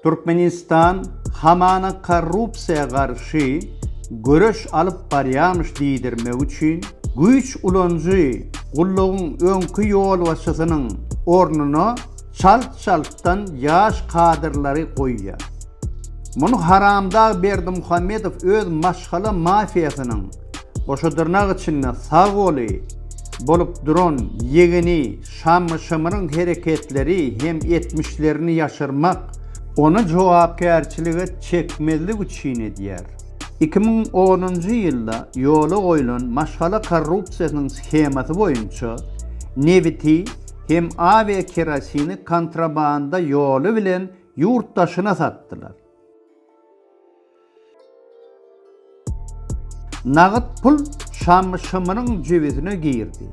Türkmenistan hamana korrupsiýa garşy göreş alyp barýarmyş diýdirmek üçin, güýç ulanyjy gullugyň öňki ýolbaşçysynyň ornuna çalt-çaltdan ýaş kadrlary goýýar. Muny haramdag Berdimuhamedow öz maşgala mafiýasynyň, goşadyrnak içinde, sag goly bolup duran ýegeni Şammy-şymryň hereketleri hem etmişlerini ýaşyrmak, ony jogapkärçilige çekmezlik üçin edýär. Iki müň onunjy ýylda ýola goýlan maşgala korrupsiýasynyň shemasy boýunça nebiti hem awiakerosini kontrabanda ýoly bilen ýurt daşyna satdylar. Nagt pul Şamşymyryň jübüsine girdi.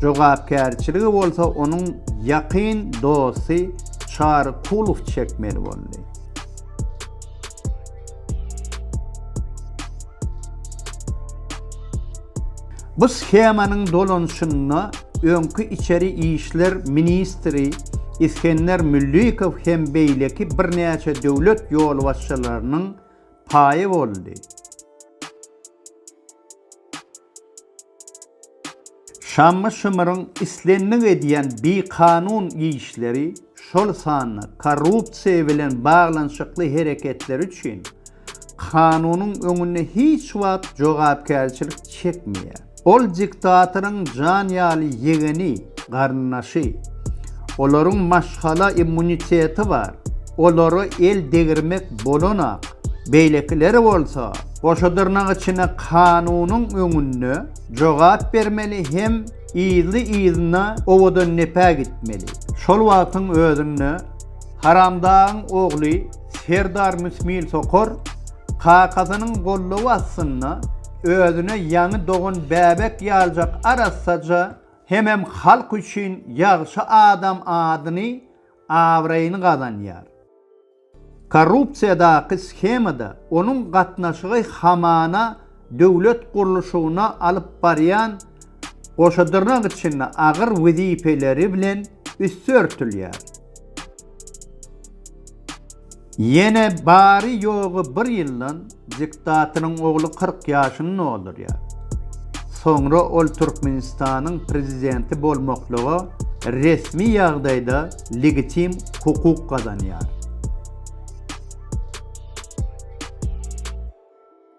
Jogapkärçiligi bolsa onuň ýakyn dosty Çary Kulow çekmeli boldy. Bu shemanyň dolanyşynda öňki içeri işler ministri Isgender Müllikow hem beýleki birnäçe döwlet ýolbaşçylarynyň paýy boldy. Şammy-şymyryň islendik edýän bikanun işleri, şol sanda korrupsiýa bilen baglanyşykly hereketleri üçin kanunyň öňünde hiç wagt jogapkärçilik çekmeýär. Ol diktatoryň jan ýaly ýegeni, garyndaşy. Olaryň maşgala immuniteti bar. Olara el degirmek bolanok. Beýlekiler bolsa, goşa dyrnak içinde kanunyň öňünde jogap bermeli hem yzly-yzyna owadandepe gitmeli. Şol wagtyň özünde Haramdagyň ogly Serdar Müsmil Sokor kakasynyň goldawy astynda özüne ýaňy dogan bäbek ýaljak arassaja hemem halk üçin ýagşy adam adyny, abraýyny gazanýar. Korrupsiýadaky shemada onuň gatnaşygy hamana döwlet gurluşygyna alyp barýan goşadyrnak içinde agyr wezipeleri bilen üsti örtülýär. Ýene bary-ýogy bir ýyldan diktatyryň ogly kyrk ýaşyny doldurýar. Soňra ol Türkmenistanyň prezidenti bolmaklyga resmi ýagdaýda legitim hukuk gazanýar.